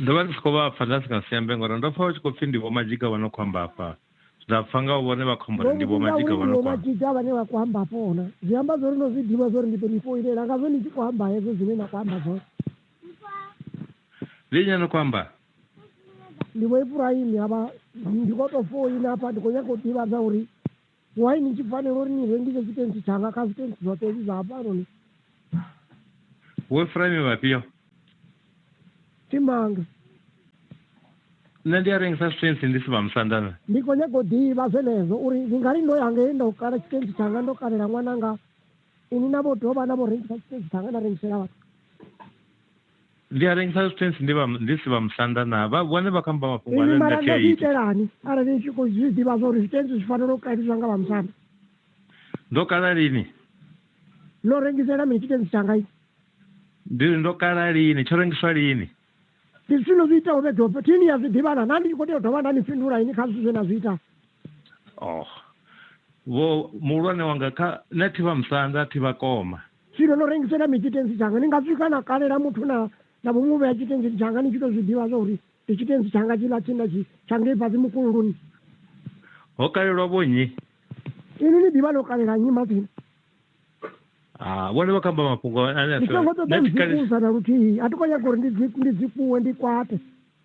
ndo vha ndi si khou vha pfa nda si nga si ambe ngori ndo pfa vha tshi khou pfhi ndi vho madzhiga vha no khou amba afha nda pfa nga vhone vha khombo ri ndi vho madzhiga vha no khou madzhiga vhane vha khou amba afhona zwi amba zwori ndo zwi ḓivha zwori ndi ḓo ni foinela nga zwe ni tshi khou amba hezwo zwine na khou amba zwone ndi nnyi no khou amba ndi vho ifurahimi havha ndi khou tou foina afha ndi khou nyaka u ḓivhadza uri Why ni tshi fanela uri ni rengise zwitentsi tshanga kha zwitentsi zwoṱhe hezwi zwa hafhanoni? Vhoefraimi vhafhio? Thi manga. Nṋe ndi a rengisa zwitentsi ndi si vhamusanda na. Ndi khou nyaga u ḓivha zwenezwo uri ndi nga ri ndo ya ngei nda u kala tshitentsi tshanga ndo kalela ṅwananga, inwi na vho dovha na vho rengisa tshitentsi tshanga na rengisela vhathu. ndi a rengisa zwitentsi ndi vha- ndi si vha musanda na vha vhone vha kamba mafhungo inwi ane mara nda tea nga zwi ita itelani arali ni tshi khou zwi ḓivha zwa uri zwitentsi zwi fanela u kaliswa nga vhamusanda ndo kala lini no rengisela mini tshitentsi tshanga i ndi ri ndo kala lini tsho rengiswa lini ndi zwithu no zwi ita ube dope thini ya zwi ḓivhana na ndi tshi khou tea u dovha nda ni fhindula ini kha zwithu zwe na zwi ita oh vho muhulwane wanga kha nṋe thi vha musanda thi vha koma Tshilo ḽo rengisela mi tshitenzi tshanga, ni nga swika na kalela muthu na na vho mu vhea tshitenzini tshanga ni tshi tou zwi ḓivha zwa uri ndi tshitenzi tshanga tshiḽa tshine tshi tsha ngei fhasi mukululuni. Ho kalelwa vho nnyi? Inwi ni ḓivha ḽo kalela nnyi matsina? Ha, vhone vha kamba mafhungo ane a Ndi songo ṱoḓa u dzi kusa na luthihi. A thi khou nyaga uri ndi dzi ndi dzi kuwe ndi kwate.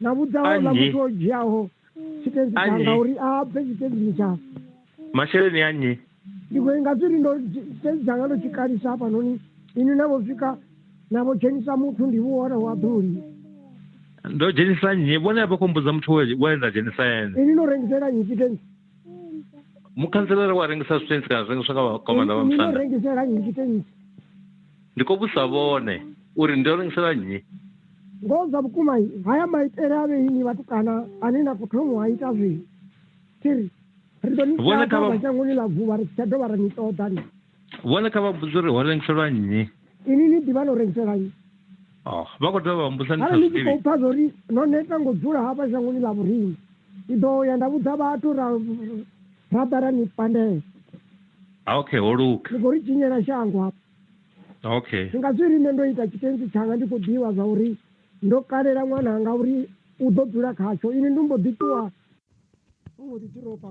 na vhudzaho ḽa muthu o dzhiaho tshitentsi tshanga uri a bve tshitentsini tsha masheleni a nnyi ndi khou inga zwiri ndo tshitentsi tshanga ndo tshi kalisa hafhanoni ini na vho swika na vho dzhenisa muthu ndi vhuhora wa ḓuli ndo dzhenisa nnyi vhone vha khou mbudza muthu we nda dzhenisa ene ini no rengisela nnyi tshitensi mukhanselara wa rengisa zwitensi kana zwi rengiswa nga vhakomanda vha musanda rengisela nnyi tshitensi Ndi khou vhudzisa vhone uri ndi ḓo rengisela nnyi? Ngoho dza vhukuma, haya maitele a vhe inwi vhatukana ane na khou thoma u a ita zwino. Thi ri, Ri ḓo ni Vhone kha vha- ḓadza shangoni ḽa vhuvha, ri si tsha dovha ra ni ṱoḓa. Ni, Vhone kha vha mbudze uri ho rengiselwa nnyi? inwi ni ḓivha no rengiselwa nnyi. Oh, vha khou dovha vha mbudza ndi sa Arali ni zwi tshi khou ḓivhi. pfa zwa uri no neta nga u dzula hafha shangoni ḽa vhoriṋe, ndi ḓo ya nda vhudza vhathu ra ra ḓa ra ni pandela. okay holuka ndi khou ri tshinyela shango hafha okay ndi nga zwi ri nṋe ndo ita tshitenzi tshanga ndi khou ḓivha zwa uri ndo kalela ṅwana anga uri u ḓo dzula khatsho ini ndi mbo ḓi ṱuwa u mbo ḓi tiropa